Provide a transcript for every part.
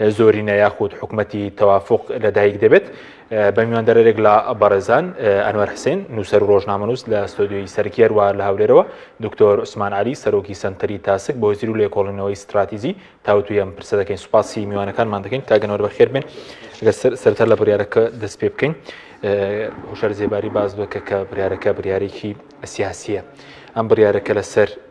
زۆرینە یاخود حکومەتی تەوافق لەدایک دەبێت بە میواندەرێک لە بەڕێزان ئەنوەر حسین نووسەر ڕۆژنامەنووس لە ستۆدیۆی سەرکێر وار لە هەولێرەوە دکتۆر عوسمان علی سەرۆکی سنتەری تاسک بۆ زیر و لێکۆڵینەوەی استراتیزی تاوتوی ئەم پرسە دەکەین سوپاسی میوانەکانمان دەکەین کاگەنەوە بەخێر بێن سەرتر لە بڕارەکە دەست پێ بکەین هوشار زێباری باز بکە کە بریارەکە بریارێکی سیاسیە ئەم بڕارەکە لەسەر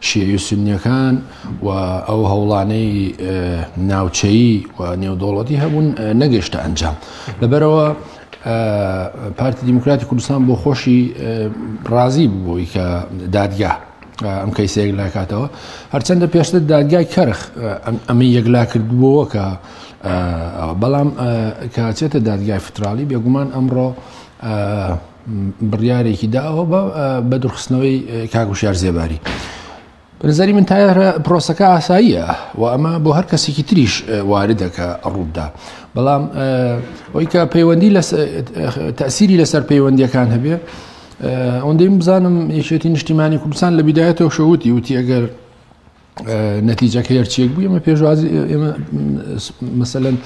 شیعی و سوننیەکان و ئەو هەوڵانەی ناوچەیی و نێودەوڵەتی هەبوون نەگەشتە ئەنجام لەبەرەوە پارتی دیموکراتی کوردستان بۆ خۆشی ڕازی بووی کە دادگا ئەم کەیسە یەکلاکاتەوە هەرچەندە پێشتر دادگای کەرخ ئەمە یەکلا کردبووەوە کە بەڵام کاچێتە دادگای فترالی بێگومان ئەمڕۆ بڕیارێکی داوە بە بەدرخستنەوەی کاک وشار زێباری. بەنظری من تایرە پرۆسەکە ئاساییە و ئەمە بۆ هەر کەسێکی تریش واردەکە ڕوودا بەڵام ئەوی کە پەیوەندی لە تەسیری لەسەر پەیوەندیەکان هەبێ ئەوەندەی بزانم یەکێتی نیشتیمانی کوردستان لە بیدایەتەوە شەوتی وتی ئەگەر نەتیجەکە هەرچیەک بوو ئمە پێشوازی ئێمە مەسەەن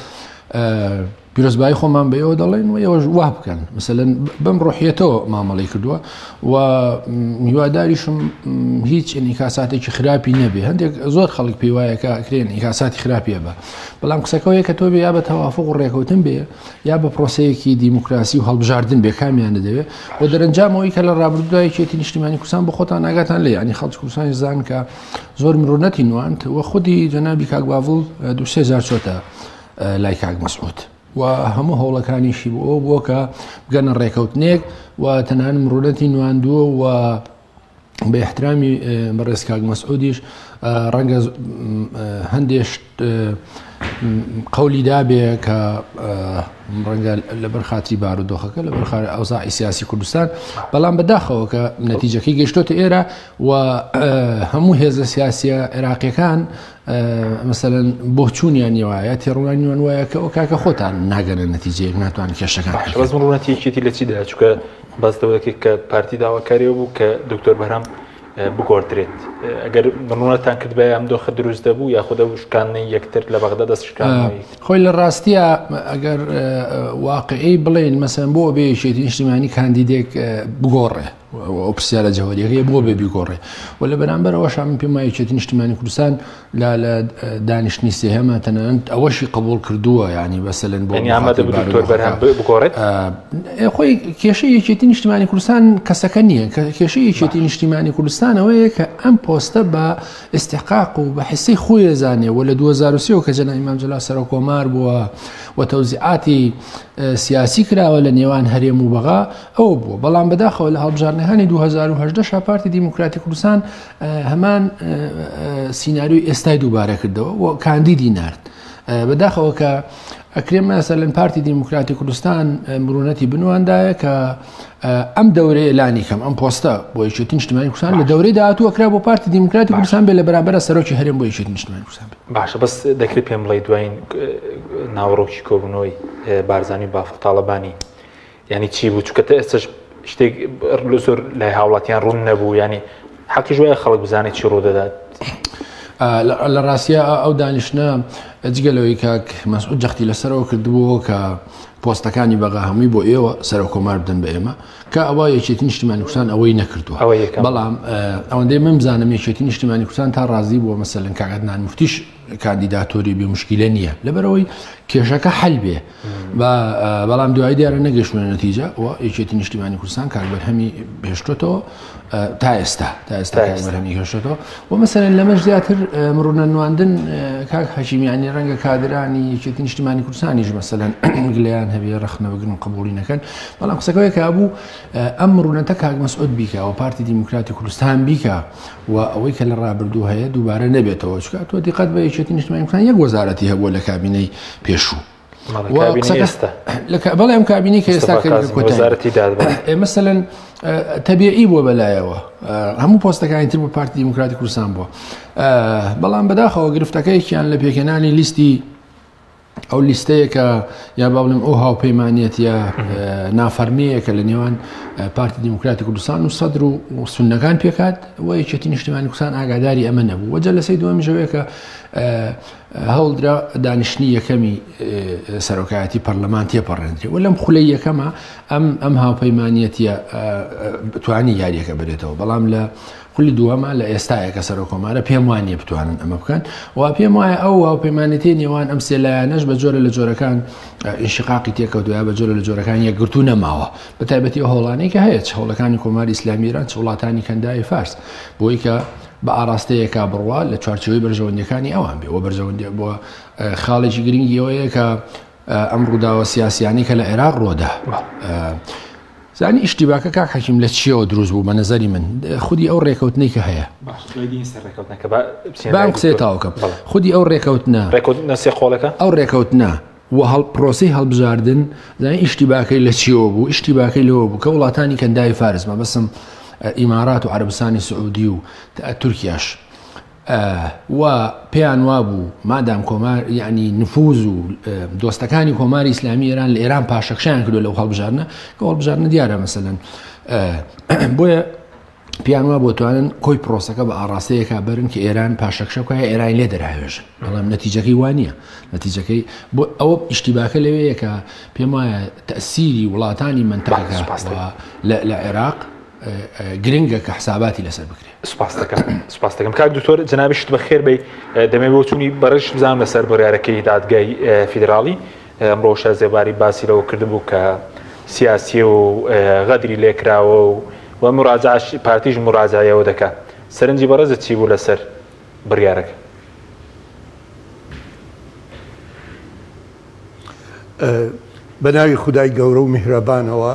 پیرۆزبایی خۆمان بە ئێوە دەڵێن و ئێوەش وا بکەن مثلەن بەم ڕۆحیەتەوە مامەڵی کردووە و میواداریشم هیچ ئینیکاساتێکی خراپی نەبێ هەندێک زۆر خەڵک پێی وایەکە کرێن ئینیکاساتی خراپیە بە بەڵام قسەکەەوەیە کە تۆ بێ یا بە تەوافق و ڕێکەوتن بێ یا بە پرۆسەیەکی دیموکراسی و هەڵبژاردن بێ کامیانە دەوێت و دەرەنجامەوەی کە لە ڕابردودا یەکێتی نیشتیمانی کوردستان بۆ خۆتان ناگاتان لێ ینی خەڵکی کوردستانی زان کە زۆر مرۆنەتی نواند و خودی جەنابی کاک باڤڵ دوو سێ جار چۆتە لای کاک مەسعود و هەموو هەوڵەکانیشی بۆ ئەو بووە کە بگەنە ڕێکەوتنێک و تەنان مرۆنەتی نواندووە و بە احترامی بەڕێز کاک مەسعودیش ڕەنگە هەندێش قولی دابێ کە ڕەنگە لەبەر خااتری بارودۆخەکە لەبەر خار ئەوزاعی سیاسی کوردستان بەڵام بەداخەوە کە نەتیجەکەی گەشتۆتە ئێرە و هەموو هێزە سیاسیە عێراقیەکان مثلەن بۆ چوونیان نیوایە تێڕوانیان وایە کە ئەو کاکە خۆتان ناگەنە نەتیجەیەک ناتوان کێشەکان ڕونەتیەکێتی لە چیدا چکە باس لەوە دەکرێت کە پارتی داواکاری ئەوە بوو کە دکتۆر بەرام بگۆڕدرێت ئەگەر بمڕەتان کرد بە ئەم دۆخە دروست دەبوو یاخدا و شکاننی یەکتر لە بەغدا دەستشکانەوەی خۆی لە ڕاستیە ئەگەر واقعی بڵێن مەسەن بۆ بێشێتی نیشتیمانی کاندیدێک بگۆڕێ ئۆپسیالە جەوەریەکەی بۆ بێ بیگۆڕێ و لە بەرامبەرەوەش من پێمایەتی نیشتیمانی کوردستان لا لە دانیشتنی سێهەمە تەنانەت ئەوەشی قبول کردووە یعنی بەسەلەن بۆ خۆی کێشە یەکێتی نیشتمانی کوردستان کەسەکە نییە کە کێشە یەکێتی نیشتیمانی کوردستانەوەیە کە ئەم پۆستە بە ئستحقاق و بە حسی خۆی زانێ و لە 2023 کە جەنای مامجللا سەرۆک کۆمار بووە و تەوزیعاتی سیاسی کراوە لە نێوان هەرێم و بەغا ئەو بووە بەڵام بەداخەوە لە هەڵبژارنەکانی 2010 شاپارتی دیموکراتی کوردستان هەمان سیناریۆی ئێستای دووبارە کردەوە و کاندیدی نرد بەداخەوە کە ئەکرێم ناسەر لەن پارتی دیموکراتی کوردستان مرونەتی بنواندایە کە ئەم دەورەیە لانی کەم ئەم پۆستە بۆ یشێتی نیشتمانی کوردستان لە دەورەی داهاتوو کرا بۆ پارتی دیموکراتی کوردستان بێ لە بەرامبەر سەرۆکی هەرێم بۆ یشێتی نیشتمانی کوردستان باشە بەس دەکرێت پێم بڵێ دوایین ناوەڕۆکی کۆبوونەوەی بارزانانی بافڵ تاڵەبانی یانی چی بوو چکە ئێستش شتێک لە زۆر لای هاوڵاتیان ڕوون نەبوو ینی حەقی ژوای خەڵک بزانێت چی ڕوودەدات لە ڕاستە ئەو دانیشتە جگە لەوەی کاک مەسعود جەختی لەسەرەوە کردبووەوە کە پۆستەکانی بەغا هەمووی بۆ ئێوە سەر کۆمار بدەن بە ئێمە کە ئەوە یەکێتی نیشتیمانی کوردستان ئەوەی نەکردووە بەڵام ئەوەندەی من بزانم یەکێتی نیشتیمانی کوردستان تا ڕازی بووە مەسەلەن کاگەدنان مفتیش کاندیداتۆری بێ مشکیلە نییە لەبەرەوەی کێشەکە حل بێ بەڵام دوای دیارە نەگەشتمە نەتیجە و یەکێتی نیشتیمانی کوردستان کاربەرهەمی هێشتێتەوە تا ئێستا تا ئێستا بەرهەمی هێشتێتەوە و مەسەرەن لەمەش زیاتر مڕونە نواندن کاک حەشیمیانی ڕەنگە کادرانی یەکێتی نیشتیمانی کوردستانیش مەسەەن گلیان هەبێ ڕخنەوەگرن قبولی نەکەن بەڵام قسەکەی کابوو ئەم ڕوونەتە کاک مەسعود بیکە و پارتی دیموکراتی کوردستان بیکە و ئەوەی کە لە ڕابردوو هەیە دووبارە نەبێتەوە چکە تۆ دیقەت بە یەکێتی نیشتمانیەکان یەک وەزارەتی هەبووە لە کابینەی پێشوو بەڵێ ئەم کابینی کە ئێستا وەزارەتی ئێمەسەلەن تەبیعی بووە بەلایەوە هەموو پۆستەکانی تر بۆ پارتی دیموکراتی کوردستان بووە بەڵام بەداخەوە گرفتەکەیکیان لە پێکەنانی لیستی ئەو لیستەیەکە یا با بڵێم ئەو هاوپەیمانەتە نافەرمیەکە لە نێوان پارتی دیموکراتی کوردستان و سەدر و سنەکان پێکات و یەکێتی نیشتمانی کوردستان ئاگاداری ئەمە نەبوو وەجە لەسەی دووەم ژەوەیەکە هەوڵدرا دانیشتنی یەکەمی سەرۆکایەتی پەرلەمان تێپەڕێنرێ و لەم خولەی یەکەمە ئەم ئەم هاوپەیمانەتە بتانی یاریەکە بێتەوە بەڵام لە خولی دووەمە لە ئێستایە کە سەرۆک کۆمارە پێم وان نیە بتوانن ئەمە بکەن و پێم وایە ئەو هاوپەیمانێتی نێوان ئەم سێلایەنەش بە جۆرە لە جۆرەکان ئیشقاقی تێکەوتوە بە جۆرە لە جۆرەکان یەکگرتو نەماوە بە تایبەتی هۆڵانی کە هەیە هەوڵەکانی کۆماری ئیسلامیران وڵاتانی کەنداوی فارس بۆی کە بە ئاراستەیەکە بڕوا لە چوارچەوەی بەرژەوەندەکانی ئەوان بێ وە بەرژەوەندی بۆ خاڵێکی گرنگیەوەیە کە ئەم ڕووداوە سیاسیانەی کە لە عێراق ڕۆدا زانی ئیشتیباکە کاک حەکیم لە چیەوە دروست بوو بە نظری من خودی ئەو ڕێکەوتنی کە هەیە بام قسێ تاوکە خودی ئەو ڕێکەوتنە ڕێکوتنەسێ خۆڵەکە ئەو ڕێکەوتنە و هەڵ پرۆسی هەڵبژاردن زانی ئیشتیباکەی لە چیەوە بوو ئیشتیباکەی لەوە بوو کە وڵاتانی کەنداوی فارس مەبەسم ئیمارات و عربستانی سعودی و تورکیاش و پێیان وابوو مادام کۆمار یعنی نفوز و دۆستەکانی کۆماری ئیسلامی ئێران لە ئێران پاشەکشیان کردو لەو هەڵبژارنە کە هەڵبژارنە دیارە مەسەن بۆیە پیان وا بۆ توانن کۆی پرۆسەکە بە ئاراستەیەکە برن کە ئێران پاشەکشە بکە ئێران لێ دەراێژن بەڵام نەتیجەکەی وانە نەتیجەکەی بۆ ئەو ئیشتیباکە لەوەیەکە پێم وایە تەسیری وڵاتانی منتەقە لە عێراق گرنگە کە حساباتی لەسەر بکرێت سپاس دەکەم سپاس دەکەم کاک دکتۆر جنابی شت بەخێر بی دەمێ بۆچوونی بەڕش بزانام لەسەر بڕارەکەی دادگای فیدراڵی ئەمڕۆشە زێباری باسی لەوە کردبوو کە سیاسی و غەدری لێکراوە و و مراجعش پارتیش مراجعەوە دەکە سەرنجی بەڕێزت چی بوو لەسەر بڕارەکە بەناوی خدای گەورە و میهرەبانەوە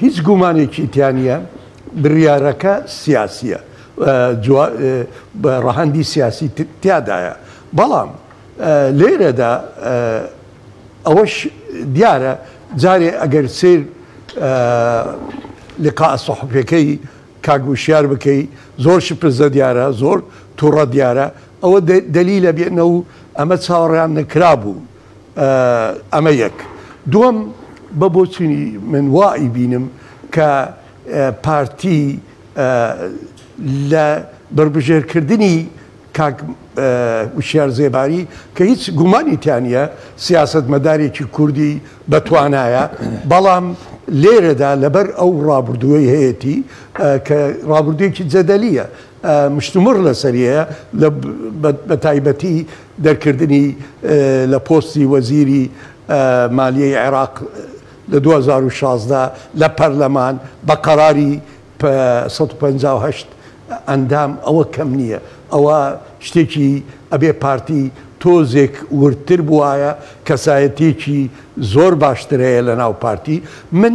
هیچ گومانێکی تیا نییە بڕیارەکە سیاسییە ڕەهەندی سیاسی تیادایە، بەڵام لێرەدا ئەوەش دیارە جارێ ئەگەر سەیر لقاء صحفیەکەی کاک وشیار بکەی زۆر شپرزە دیارە زۆر توڕە دیارە ئەوە دەلیلە بێنە و ئەمە چاوەڕێیان نەکرابوو ئەمە یەک. دووەم، بە بۆچونی من وا ئەیبینم کە پارتی لە بەربژێرکردنی کاک وشیار زێباری کە هیچ گومانی تیا نییە سیاسەتمەدارێکی کوردی بە توانایە، بەڵام لێرەدا لەبەر ئەو ڕابردووەی هەیەتی کە ڕابردوویەکی جەدەلییە مشتومڕ لەسەریە لە بەتایبەتی دەرکردنی لە پۆستی وەزیری مالیەی عێراق لە دوو هەزار و شازدە لە پەرلەمان بە قەراری سەد و پەنجا و هەشت ئەندام ئەوە کەم نیە ئەوە شتێکی ئەبێ پارتی تۆزێک وردتر بوایە کەسایەتیەکی زۆر باشترەیە لە ناو پارتی من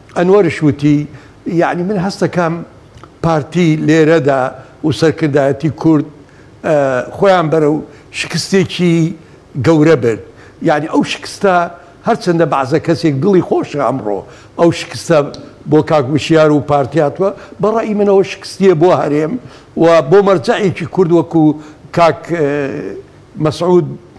ئەنوەرش وتی، یەعنی من هەستەکەم پارتی لێرەدا و سەرکردایەتی کورد خۆیان بەرەو شکستێکی گەورە برد، یەعنی ئەو شکستە هەرچەندە بەعزە کەسێک دڵی خۆشە ئەمڕۆ ئەو شکستە بۆ کاک وشیار و پارتی هاتووە، بە ڕەئی منەوە شکستیە بۆ هەرێم و بۆ مەرجەعێکی کورد وەکو کاک مەسعود.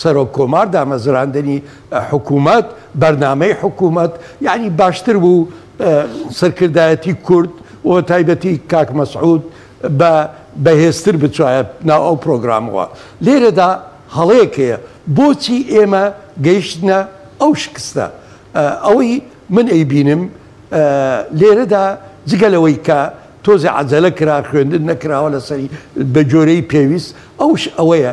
سەرۆک کۆمار دامەزراندنی حکومەت بەرنامەی حکومەت یانی باشتر بوو سەرکردایەتی کورد وە تایبەتی کاک مەسعود بە بەهێزتر بچایە ناو ئەو پرۆگرامەوە لێرەدا هەڵەیەک هەیە بۆچی ئێمە گەیشتنە ئەو شکستە ئەوەی من ئەیبینم لێرەدا جگە لەوەی کە تۆزێ عەجەلە کرا خوێندن نەکراوە لەسەری بە جۆرەی پێویست ئەوش ئەوەیە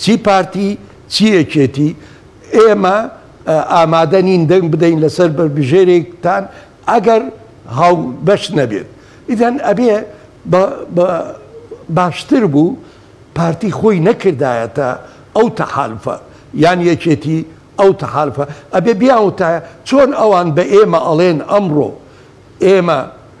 چی پارتی چی یەکێتی ئێمە ئامادە نین دەنگ بدەین لەسەر بەربژێرێکتان ئەگەر هاوبەش نەبێت ئیدەن ئەبێ بە باشتر بوو پارتی خۆی نەکردایەتە ئەو تەحالفە یان یەکێتی ئەو تەحالفە ئەبێ بیاوتایە چۆن ئەوان بە ئێمە ئەڵێن ئەمڕۆ ئێمە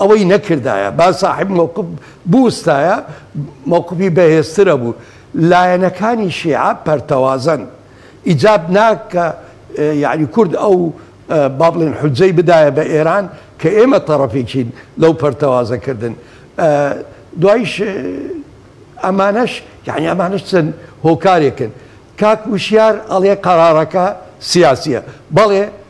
ئەوەی نەکردایە با ساحێب مەوقف بوستایە مەوقفی بەهێزتر ئەبوو لایەنەکانی شیعە پەرتەوازەن ئیجاب نا کە یەعنی کورد ئەو با بڵێن حوجەی بدایە بە ئێران کە ئێمە تەڕەفێکین لەو پەرتەوازە کردن دوایش ئەمانەش یەعنی ئەمانەش چەند هۆکارێکن کاک وشیار ئەڵێ قەرارەکە سیاسیە بەڵێ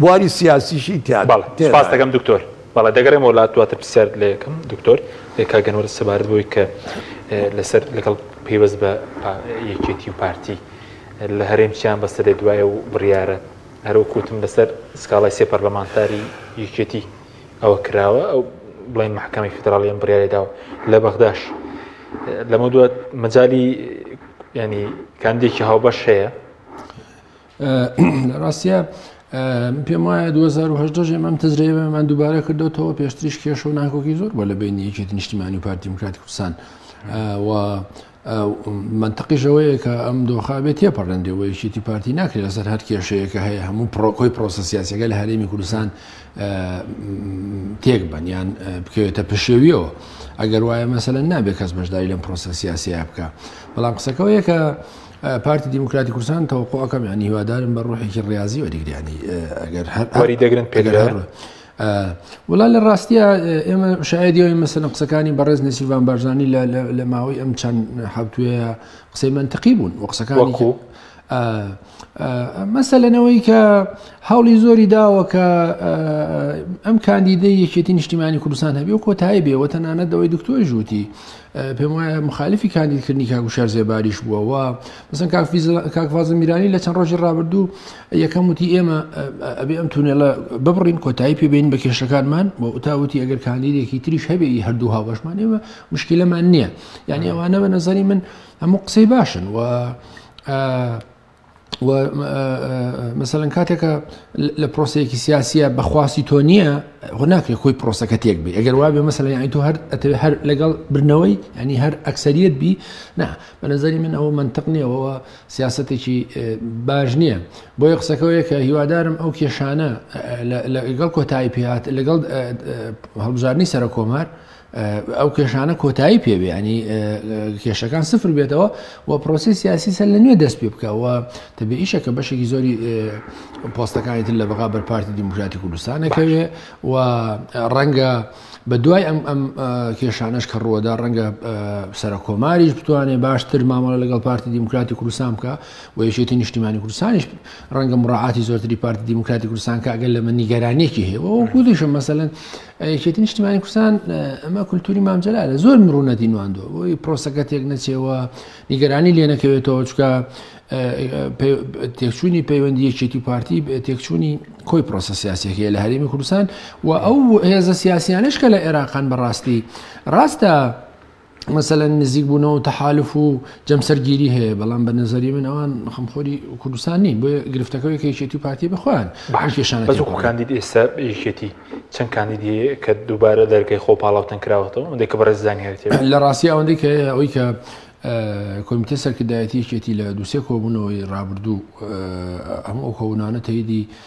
بواری سیاسیشی تیا بەڵێ تێدایە. سپاست دەکەم دکتۆر. بەڵێ دەگەڕێمەوە لات دواتر پرسیارت لێ ئەکەم دکتۆر. کاک ئەنوەر سەبارەت بەوەی کە لەسەر لەگەڵ پەیوەست بە پا یەکێتی و پارتی لە هەرێم چیان بەستە دێت دوایە و بڕیارە هەر وەکو وتم لەسەر سکاڵای سێ پەرلەمانتاری یەکێتی ئەوە کراوە ئەو بڵێن مەحکەمەی فیدراڵی ئەم بڕیارەی داوە لە بەغداش لەمەو دوات مەجالی یانی کاندیدێکی هاوبەش هەیە؟ لە ڕاستە من پێم وایە 2010 ژێ مەم تەزرێبمان دووبارە کردوەوە پێشتریش کێش و ناکۆکی زۆر بۆ لە بینی یەکێتی نیشتیمانی و پارتی دیموکرات کوردستان و منتەقیشەوەیە کە ئەم دۆخابێت تێپەڕێنێ و یەکێتی پارتی ناکرێت لەسەر هەر کێشەیەکە هەیە هەموو پرۆکۆی پرۆسە سیاسەکە لە هەرێمی کوردستان تێک بەنیان بکەوێتە پشێویەوە ئەگەر وایە مەسەن نابێت کەس بەشداری لەم پرۆسە سیاسەیە بکە بەڵام قسەکەەوەیە کە پارتی دیموکراتی کوردستان تەوەقوعەکەم یانی هیوادارم بە ڕۆحێکی ڕاضی وەریگریانی ئەگەر هەر وەری دەگرن پێگەر وڵا لە ڕاستیە ئێمە شایدیەوەی مەسەن قسەکانی بەڕێز نسیبان بارزانانی لە ماوەی ئەم چەند حوتوێ قسەی منتقی بوون و قسەکانی مەسە لەنەوەی کە هەوڵی زۆری داوە کە ئەم کاندیدە یەکێتی نیشتیمانی کوردستان هەبێ و کۆتایی بێەوە تەنانەت دەوەی دکتۆی ژووتی پێم وایە مخالفی کاندید کردنی کاک وشار زێباریش بووە و مەسەن کاک فیزل- کاک فازل میرانی لە چەند ڕۆژی ڕابردوو یەکەم وتی ئێمە ئە- ئەبێ ئەم تونێلە ببڕین کۆتایی پێ بێنین بە کێشەکانمان و تا وتی ئەگەر کاندیدێکی تریش هەبێ ئی هەردوو هاوبەشمان ئێمە مشکیلەمان نییە یانی ئەوانە بە نەزەری من هەموو قسەی باشن و ئە، مەسەن کاتێکە لە پرۆسەیەکی سیاسیە بەخواستی تۆ نییە خۆ ناکرێت خۆی پرۆسەکە تێک بێ ئەگەر وابێ مەسەن یانی تۆ هەر ئەتەوێت هەر لەگەڵ برنەوەی ینی هەر ئەکسریت بی نا بە نظری من ئەوە منطق نیەوەەوە سیاستێکی باش نییە بۆ یە قسەکەەوەیە کە هیوادارم ئەو کێشانە لەگەڵ کۆتایی پێات لەگەڵ هەڵبژارنی سەرە کۆمار ئەو کێشانە کۆتایی پێبێ ینی کێشەکان سفر بێتەوە و پرۆسی سیاسی سەر لە نوێ دەست پێ بکەوە تەبێ ئیشە کە بەشێکی زۆری پۆستەکانی تر لە بەغا بەرپارتی دیموکراتی کوردستانەکەوێ و ڕەنگە بە دوای ئەم ئەم کێشانش کە ڕووەدا ڕەنگە سەرە کۆماریش بتوانێت باشتر مامەڵە لەگەڵ پارتی دیموکراتی کوردستان بکە و یەکێتی نیشتیمانی کوردستانیش ڕەنگە مڕعاتی زۆرتری پارتی دیموکراتی کوردستان کە ئەگەر لە من نیگەرانێکی هەیە وەکوودیشم مەسەن یەکێتی نیشتمانی کوردستان ئەمە کولتوری مام جەلالە زۆر مڕوونەتی نواندوە بۆی پرۆسەکە تێک نەچێەوە نیگەرانی لێ نەکەوێتەوە چکە تێکچوونی پەیوەندی یەکێتی و پارتی تێکچوونی کۆی پرۆسە سیاسەکەیە لە هەرێمی کوردستان و ئەو هێزە سیاسیانش کە لە عێراقان بەڕاستی ڕاستە مەسەلەن نزیک بوونەوەو تەحالف و جەمسەر گیری هەیە بەڵام بە نەزەری من ئەوان خەمخۆری کوردستان نین بۆ گرفتەکەی کەیشێتی پارتی بخۆیان باشێشان کاندید ئێستا یەکێتی چەند کاندیدی کە دووبارە دەرگای خۆ پاڵاوتن کراوەتەوە ئەندێک کە بەڕێزدان هێت لە ڕاستی ئەوەندەی کە ئەوی کە کۆمیتە سەرکردایەتیەکێتی لە دووسێ کۆبوونەوەی ڕابردوو هەموو ئەو کۆبوونانە تەیدی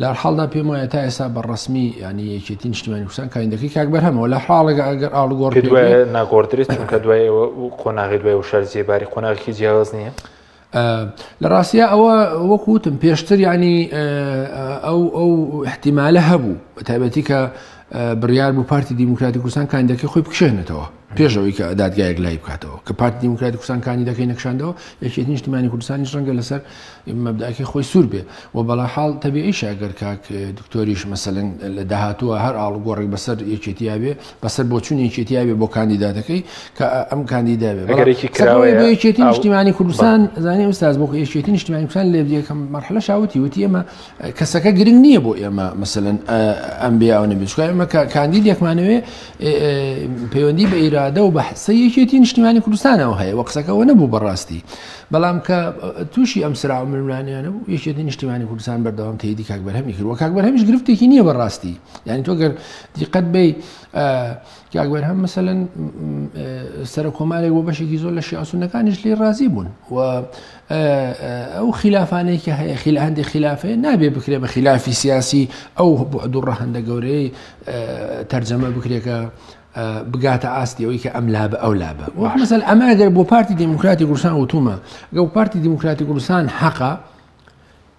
لە هەر حاڵدا پێم وایە تا ئێستا بە ڕەسمی یانی یەکێتی نیشتیمانی کوردستان کاندیدەکەی کاک بەرهەمەوە لە حاڵێکە ئەگەر ئاڵوگۆڕ پێ دوای بێ ناگۆڕدرێت چونکە دوای ئەوە و قۆناغی دوای و شەر جێباری قۆناغێکی جیاواز نییە ئە، لە ڕاستیە ئەوە وەک وتم پێشتر یانی ئە، ئەو ئەو احتیمالە هەبوو بە تایبەتی کە بڕیار بوو پارتی دیموکراتی کوردستان کاندیدەکەی خۆی بکشێنێتەوە پێش ئەوەی کە دادگایەک لای بکاتەوە کە پارتی دیموکراتی کوردستان کاندیدەکەی نەکشاندەوە یەکێتی نیشتمانی کوردستانیش ڕەنگە لەسەر مەبداکی خۆی سوور بێ و بەڵا حاڵ تەبیعیشە گەر کاک دکتۆریش مەسەلەن لە داهاتووە هەر ئاڵوگۆڕێک بەسەر یەکێتیاوێ بەسەر بۆچوون یەکێتیاوێ بۆ کاندیداتەکەی کە ئەم کاندیداوێ ئەگەرێکی کراوە یەکێتی نیشتیمانی کوردستان زانانی ئوستاز بۆ یەکێتی نیشتیمانی کوردستان لێ یەکەم مەرحلە شاوتی وتی ئێمە کەسەکە گرنگ نییە بۆ ئێمە مەسەن ئەم بیاوە نەبێت چکە ئێمە کاندید یەکمانەوێ پەیوەندی بە ئیرادە و بەحسە یەکێتی نیشتیمانی کوردستانەوە هەیە وە قسەکەەوە نەبوو بەڕاستی بەڵام کە تووشی ئەم سرا ملمانیانە بوو یەکێتی نیشتیمانی کوردستان بەردەوام تێدی کاک بەرهەمی کرد وە کاک بەرهەمیش گرفتێکی نییە بەڕاستی یعنی تۆ گەر دیقەت بی کاک بەرهەم مەسەن سەر کۆمارێک بۆ بەشێکی زۆر لە شیاسونەکانیش لێ ڕازی بوون و ئەو خیلافانەی کە هەیە خیل هەندێک خلافێ نابێ بکرێ بە خلافی سیاسی ئەو دوو ڕەهندە گەورەی تەرجەمە بکرێکە بگاتە ئاستی ئەوی کە ئەم لا بە ئەو لا بە مەسەل ئەمە ئەگەر بۆ پارتی دیموکراتی گورسان وتومە گەڵ پارتی دیموکراتی گورسان حەقا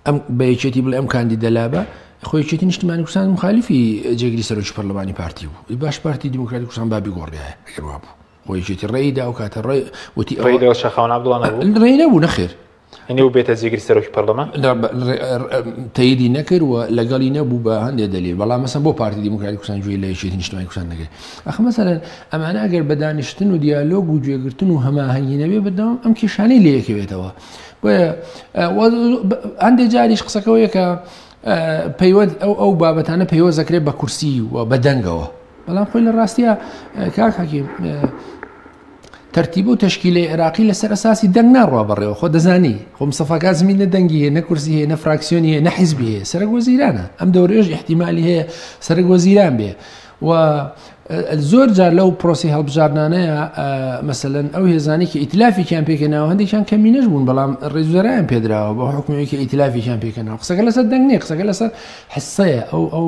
ئەم بە یەکێتی بڵێ ئەم کاندی دەلا بە خۆیچێتی نیشتمانی کوردستان مخالیفی جێگری سەرۆکی پەرلەمانی پارتی بوو باش پارتی دیموکراتی کوردستان بابی گۆڕایە گەروا بوو خۆیشی وتی ڕێی دا و کاتە ڕێ وتی ئەوە- ڕێیدەوە شەخاوەن عەبدوڵا نەبوو؟ ڕێی نەبوو نەخێر. یەنی ئەو بێتە جێگری سەرۆکی پەرلەمان؟ تەیدی نەکرد و لەگەڵی نەبوو بە هەندێ دەلیل، بەڵام مەسەن بۆ پارتی دیموکراتی کوردستان گوێ لە یەکێتی نیشتمانی کوردستان نەگرت؟ ئاخر مەسەلەن ئەمانە ئەگەر بە دانیشتن و دیالۆگ و گوێگرتن و هەماهەنگی نەبێ بەردەوام ئەم کێشانەی لێکەوێتەوە. بۆیە هەندێ جاریش قسەکەەوەیە کە پەیوەند ئەو ئەو بابەتانە پەیوەست دەکرێت بە کورسی و بە دەنگەوە. بەڵام خۆی لە ڕاستە کاک حەکیم تەرتیب و تشکیلی عێراقی لەسەر ئەساسی دەنگ ناڕوا بەڕێوە خۆ دەزانی خۆم سەفاکە زمین نە دەنگی هەیە نە کورسی هەیە نە فراکسیۆنی هەیە نە حیزبی هەیە سەرک وەزیرانە ئەم دەورێژ احتیممالی هەیە سەرک وەزیران بێ و زۆر جار لەو پرۆسی هەڵبژاردنانەیە مەسەن ئەو هێزانێکی ئیتلافیان پێکە ناو هەندێکیان کەمینەش بوون بەڵام ڕێزوەرایان پێدراوە بە حکومەوەیکی ئیتلافیان پێکەنەوە قسەکە لەسەر دەنگێ قسەکە لەسەر حسەیە ئەو ئەو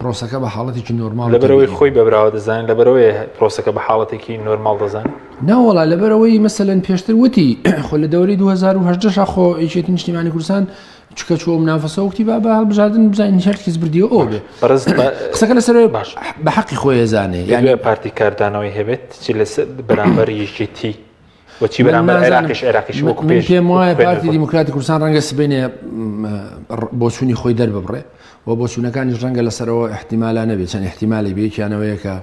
پرۆسەکە بە حاڵەتێکی نۆرماڵ لەبەرەوەی خۆی بەبراوە دەزانین لەبەرەوەی پرۆسەکە بە حاڵەتێکی نۆرماڵ دەزانین ناوەڵا لەبەرەوەی مەسەن پێشتر وتی خۆ لە دەوری 2010 خۆ یەکێتی نیشتیمانی کوردستان چکە چۆ منافەسە وتی با بە هەڵبژاردن بزانین هەر کەس بردیەوە ئەو بێ قسەکە لەسەر باش بە حەقی خۆی زانێ یان پارتی کاردانەوەی هەبێت چی لەسەر بەرامبەر یەکێتی من نازانم من پێم وایە پارتی دیموکراتی کوردستان ڕەنگە سبینێ بۆچوونی خۆی دەرببڕێ و بۆچوونەکانی ڕەنگە لەسەرەوە احتیمالا نەبێت چەند احتیمالی بێکیانەوەیەکە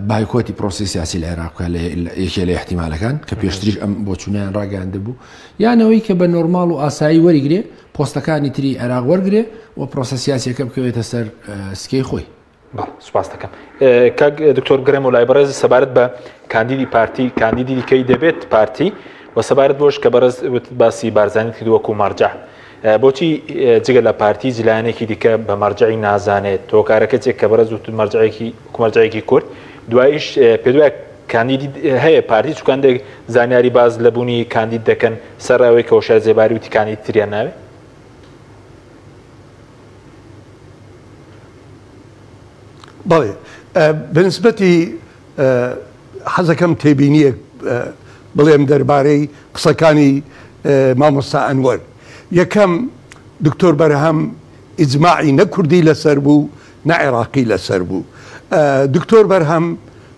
بایکۆتی پرۆسی سیاسی لە عێراق لە یەکێ لە احتیمالەکان کە پێشتریش ئەم بۆچوونیان ڕاگەاندە بوو یانەوەی کە بە نۆرمال و ئاسایی وەریگرێ پۆستەکانی تری عێراق وەرگێ و پرۆسە سیاسەکە بکەوێتە سەر سکەی خۆی سوپاس دەکەم کاک دکتۆر گرێم و لای بەڕێز سەبارەت بە کاندیدی پارتی کاندیدی دیکەی دەبێت پارتی و سەبارەت بۆش کە بەڕێز باسی بارزانانی کرد وەکو مەرجە بۆچی جگە لە پارتی جلانێکی دیکە بە مەرجعی نازانێت تۆکارەکە چێک کە بەرەز وتن مەرجەیەکی کومەرجەیەکی کورد دوایش پێدوای کاندیدی هەیە پارتی چکاندێک زانیاری باز لە بوونی کاندید دەکەن سەراوی کەوشار زێباری وتی کاندید تریان ناوێت بەڵێ بەنسبەتی حەزەکەم تێبینیەک بڵێم دەربارەی قسەکانی مامۆستا ئەنوەر یەکەم دکتۆر بەرهەم ئیجمماعی نەکوردی لەسەر بوو نە عێراقی لەسەر بوو دکتۆر بەرهەم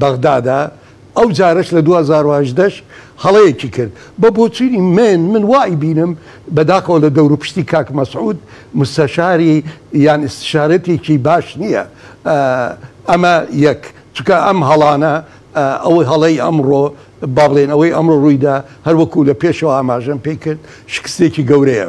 بەغدادا، ئەو جارەش لە دوو هەزار و هەژدە ش هەڵەیەکی کرد بە بۆچونی من من وا ئەیبینم بەداخەوە لە دەوروپشتی کاک مەسعود مستەشاری یان ئیستشارەتێکی باش نییە ئەمە یەک چونکە ئەم هەڵانە ئەوەی هەڵەی ئەمڕۆ بابڵێن ئەوەی ئەمڕۆ ڕوویدا هەروەکو لە پێشەوە ئاماژەم پێی کرد شکستێکی گەورەیە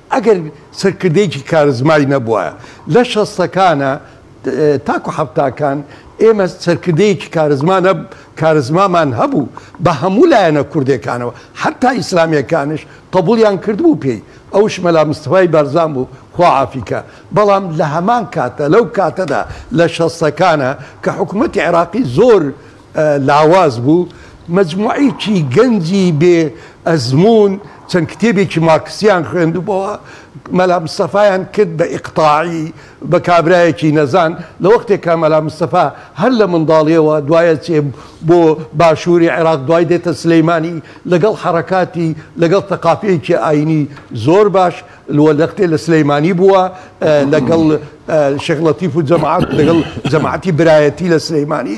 ئەگەر سەرکردەیەکی کارزمای نەبوایە لە شەستەکانا تاکو حەفتاکان ئێمە سەرکردەیەکی کارزما نە کارزمامان هەبوو بە هەموو لایەنە کوردەکانەوە حەتا ئیسلامیەکانش قبولیان کردبوو پێی ئەوش مەلا مستەفای بارزان بوو خوا عافیکا بەڵام لە هەمان کاتە لەو کاتەدا لە شەستەکانا کە حکومەتی عێراقی زۆر لاواز بوو، مەجموعەیەکی گەنجی بێ ئەزموون چەند کتێبێکی مارکسییان خوێندبۆوە، مەلا مستەفایان کرد بە ئیقتاعی، بە کابرایەکی نەزان، لە وەختێکا مەلا مستەفا هەر لە منداڵییەوە دوای ئەچێ بۆ باشووری عێراق، دوای دێتە سلێمانی، لەگەڵ حەڕەکاتی، لەگەڵ تەقافییەکی ئایینی زۆر باش، لوە لەختێ لە سلێمانی بووە، لەگەڵ شێخ لەتیف و جەماعەت، لەگەڵ جەماعەتی برایەتی لە سلێمانی.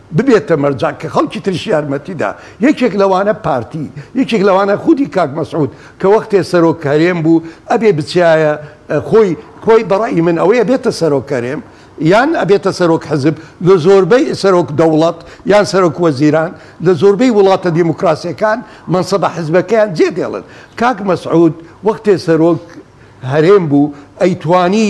ببێتە مەرجەع کە خەڵکی تریش یارمەتیدا، یەکێک لەوانە پارتی، یەکێک لەوانە خودی کاک مەسعود کە وەختێ سەرۆک هەرێم بوو ئەبێ بچیایە خۆی، خۆی بە ڕەئی من ئەوەیە بێتە سەرۆک هەرێم یان ئەبێتە سەرۆک حزب لە زۆربەی سەرۆک دەوڵەت یان سەرۆک وەزیران لە زۆربەی وڵاتە دیموکراسیەکان مەنسەبە حزبەکەیان جێ دێڵن کاک مەسعود وەختێ سەرۆک هەرێم بوو ئەیتوانی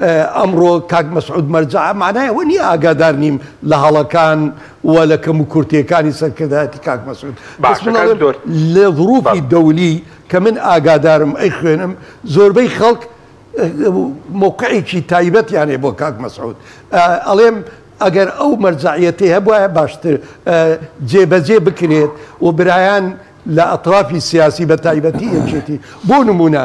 ئەمڕۆ کاک مەسعود مەرجەع مەعنای ئەوە نیە ئاگادار نیم لە هەڵەکان و لە کەموکورتیەکانی سەرکردایەتی کاک مەسعود بەس من ئەڵێم لە ظروفی دەولی کە من ئاگادارم ئەیخوێنم زۆربەی خەڵک مەوقعێکی تایبەتیان هەیە بۆ کاک مەسعود ئەڵێم ئەگەر ئەو مەرجەعیەتی هەبوایە باشتر جێبەجێ بکرێت و برایان لە ئەترافی سیاسی بە تایبەتی یەکێتی بۆ نمونە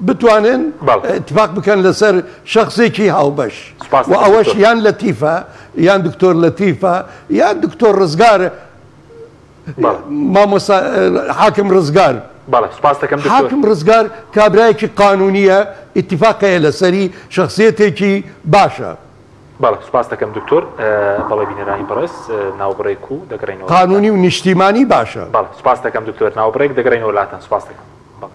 بتوانن ئیتفاق بکەن لەسەر شەخسێکی هاوبەش و ئەوەش یان لەتیفە یان دکتۆر لەتیفە یان دکتۆر ڕزگار مامۆستا حاکم ڕزگار حاکم ڕزگار کابرایەکی قانونیە ئیتفاقەیە لەسەری شخصیتێکی باشە. بەڵێ سوپاست دەکەم دکتۆر. بەڵێ بینەرانی بەڕێز ناوبڕێک و دەگەڕێینەوە لاتان. قانونی و نیشتیمانی باشە. بەڵێ سوپاست دەکەم دکتۆر. ناوبڕێک دەگەڕێینەوە لاتان. سوپاست دەکەم. بەڵێ.